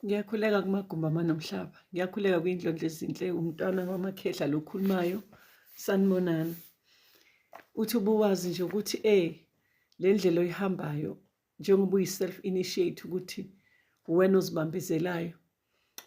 Ngiyakhuleka kumagumba amanomhlaba. Ngiyakhuleka kwindlondlo ezinhle umntwana wamakhehla lokhulumayo sanibonani. Uthi ubuwazi nje ukuthi eh le ndlela oyihambayo njengoba uyi self initiate ukuthi uwena ozibambezelayo.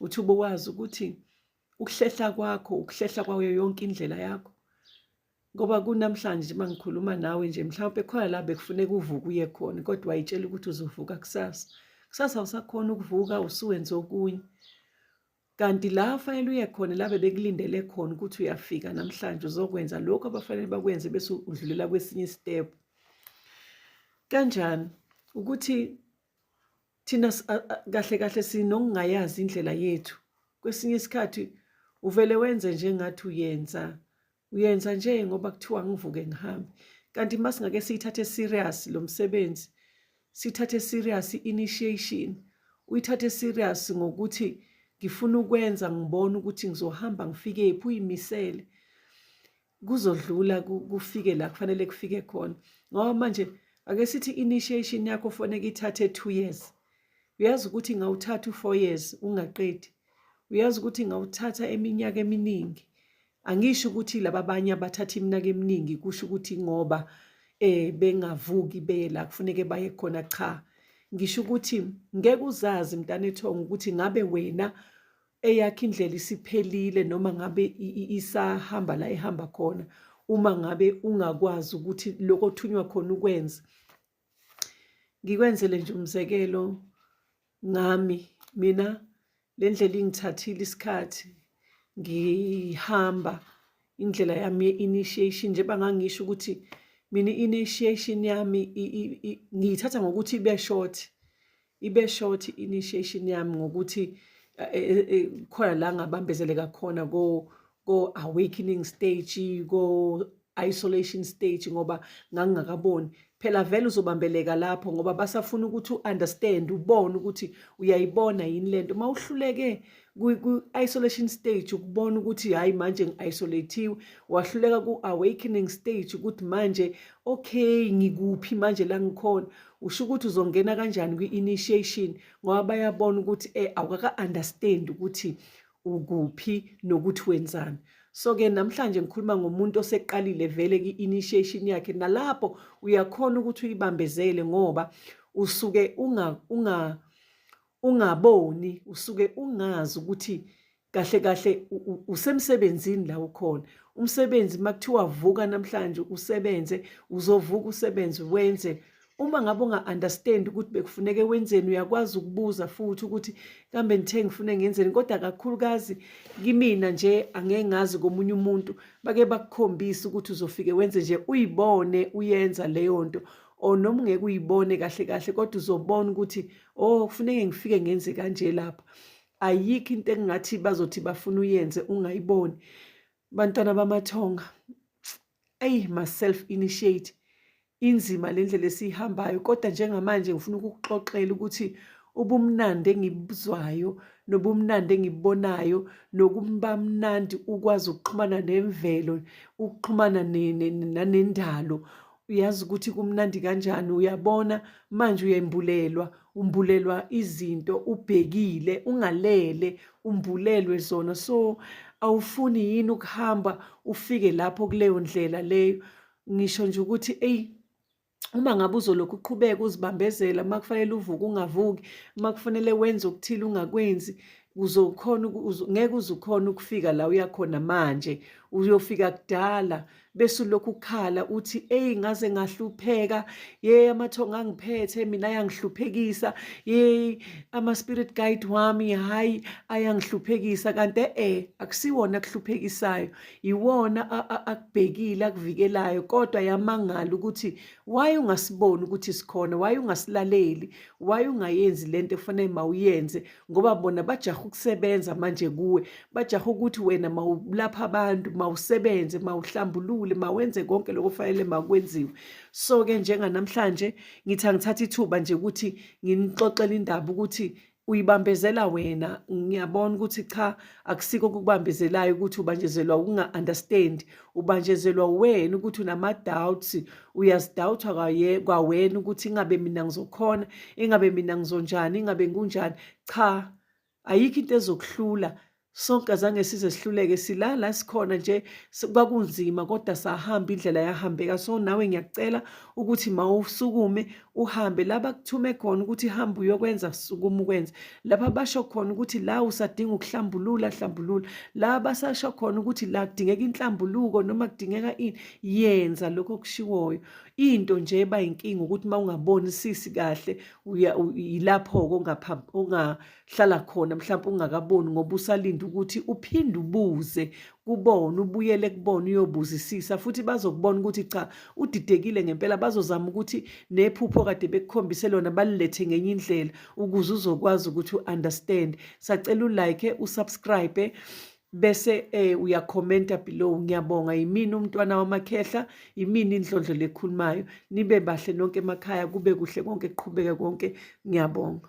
Uthi ubuwazi ukuthi ukuhlehla kwakho ukuhlehla kwayo yonke indlela yakho ngoba kunamhlanje uma ngikhuluma nawe nje mhlawumpe khona la bekufuneka uvuke uye khona kodwa wayitshela ukuthi uzovuka kusasa kusasa usakhona ukuvuka usuwenze okunye kanti la fanele uye khona la bebekulindele khona ukuthi uyafika namhlanje uzokwenza lokho abafanele bakwenze bese udlulela kwesinye step kanjani ukuthi thina kahle kahle sinokungayazi indlela yethu kwesinye isikhathi uvele wenze njengathi uyenza uyenza nje ngoba kuthiwa ngivuke ngihambe kanti uma singake siyithathe serious lo msebenzi sithathe serious i-initiation uyithathe serious ngokuthi ngifuna ukwenza ngibone ukuthi ngizohamba ngifike phi uyimisele kuzodlula kufike la kufanele kufike khona ngoba manje ake sithi initiation yakho foneke ithathe 2 years uyazi ukuthi ngawuthatha u4 years ungaqedi uyazi ukuthi ngawuthatha eminyaka eminingi angisho ukuthi laba abanye abathatha iminaka eminingi kusho ukuthi ngoba eh bengavuki beye la kufuneke baye khona cha ngisho ukuthi ngeke uzazi mntana ethongo ukuthi ngabe wena eyakhe indlela isiphelile noma ngabe isahamba la ehamba khona uma ngabe ungakwazi ukuthi lokho othunywa khona ukwenza ngikwenzele nje umzekelo ngami mina le ndlela ingithathile isikhathi ngihamba indlela yami ye-initiation njengoba ngangisho ukuthi mina i-initiation yami ngiyithatha ngokuthi ibe short ibe short initiation yami ngokuthi eh, eh, eh, khona la ngabambezeleka khona ko ko awakening stage ko isolation stage ngoba ngangingakaboni phela vele uzobambeleka lapho ngoba basafuna ukuthi uunderstand ubone ukuthi uyayibona yini lento uma uhluleke ku-isolation stage ukubona ukuthi hhayi manje ngi-isolathiwe wahluleka ku-awakening stage ukuthi manje okay ngikuphi manje la ngikhona usho ukuthi uzongena kanjani kwi-initiation ngoba bayabona ukuthi eh awukaka-understand ukuthi ukuphi nokuthi wenzani so-ke namhlanje ngikhuluma ngomuntu oseqalile vele ki-initiation yakhe nalapho uyakhona ukuthi uyibambezele ngoba usuke unga, unga ungaboni usuke ungazi ukuthi kahle kahle usemsebenzini la ukhona umsebenzi makuthiwa vuka namhlanje usebenze uzovuka usebenze wenze uma ngabe unga-understand ukuthi bekufuneke wenzeni uyakwazi ukubuza futhi ukuthi kambe ngithe ngifune ngenzeni kodwa kakhulukazi kimina nje angeke ngazi komunye umuntu bake bakukhombise ukuthi uzofike wenze nje uyibone uyenza leyo nto or noma ungeke uyibone kahle kahle kodwa uzobona ukuthi oh kufuneke ngifike ngenze kanje lapha ayikho into engingathi bazothi bafuna uyenze ungayiboni bantwana bamathonga eyi ma self initiate inzima le ndlela esiyihambayo kodwa njengamanje ngifuna ukukuxoxela ukuthi ubumnandi engibuzwayo nobumnandi engibubonayo nokuba mnandi ukwazi ukuxhumana nemvelo ukuxhumana nanendalo uyazi ukuthi kumnandi kanjani uyabona manje uyembulelwa umbulelwa izinto ubhekile ungalele umbulelwe zona so awufuni yini ukuhamba ufike lapho kuleyo ndlela leyo ngisho nje ukuthi eyi uma ngabe uzolokhu uqhubeka uzibambezela uma kufanele uvuke ungavuki uma kufanele wenze okuthile ungakwenzi uzokhona ngeke uzukhona ukufika la uyakhona manje uyofika kudala bese ulokhu ukhala uthi eyi ngaze ngahlupheka ye amathonga angiphethe mina ayangihluphekisa ye ama-spirit guide wami hhayi ayangihluphekisa kanti e akusiwona akuhluphekisayo yiwona akubhekile akuvikelayo kodwa yamangala ukuthi waye ungasiboni ukuthi sikhona waye ungasilaleli waye ungayenzi le nto ekufanele mawuyenze ngoba bona bajaha ukusebenza manje kuwe bajaha ukuthi wena mawulapha abantu mawusebenze mawuhlambulule mawenze konke lokho fanele makwenziwe so ke njenganamhlanje ngithi angithatha ithuba nje ukuthi nginixoxele indaba ukuthi uyibambezela wena ngiyabona ukuthi cha akusiko kukubambezelayo ukuthi ubanjezelwa ukunga-understand ubanjezelwa wena ukuthi unama-doubts uyazidawutha kwawena ukuthi ingabe mina ngizokhona ingabe mina ngizonjani ingabe ngikunjani cha ayikho into ezokuhlula sonke azange size sihluleke silala sikhona nje kwakunzima kodwa sahamba indlela yahambeka so nawe ngiyakucela ukuthi mawusukume uhambe la bakuthume khona ukuthi hamba uyokwenza sukuma ukwenze lapha basho khona ukuthi la usadinga ukuhlambulula hlambulula la basasho khona ukuthi la kudingeka inhlambuluko noma kudingeka ini yenza lokho okushiwoyo into nje eba inkinga ukuthi uma ungaboni sisi kahle yilapho-ke hlala khona mhlawumbe ungakaboni ngoba usalinde ukuthi uphinde ubuze kubona ubuyele kubona uyobuzisisa futhi bazokubona ukuthi cha udidekile ngempela bazozama ukuthi nephupho kade bekukhombise lona balilethe ngenye indlela ukuze uzokwazi ukuthi u-understand sacela ulike usubscribe bese eh uyakhomenta below ngiyabonga yimini umntwana wamakhehla yimini indlondlo lekhulumayo nibe bahle nonke emakhaya kube kuhle konke kuqhubeke konke ngiyabonga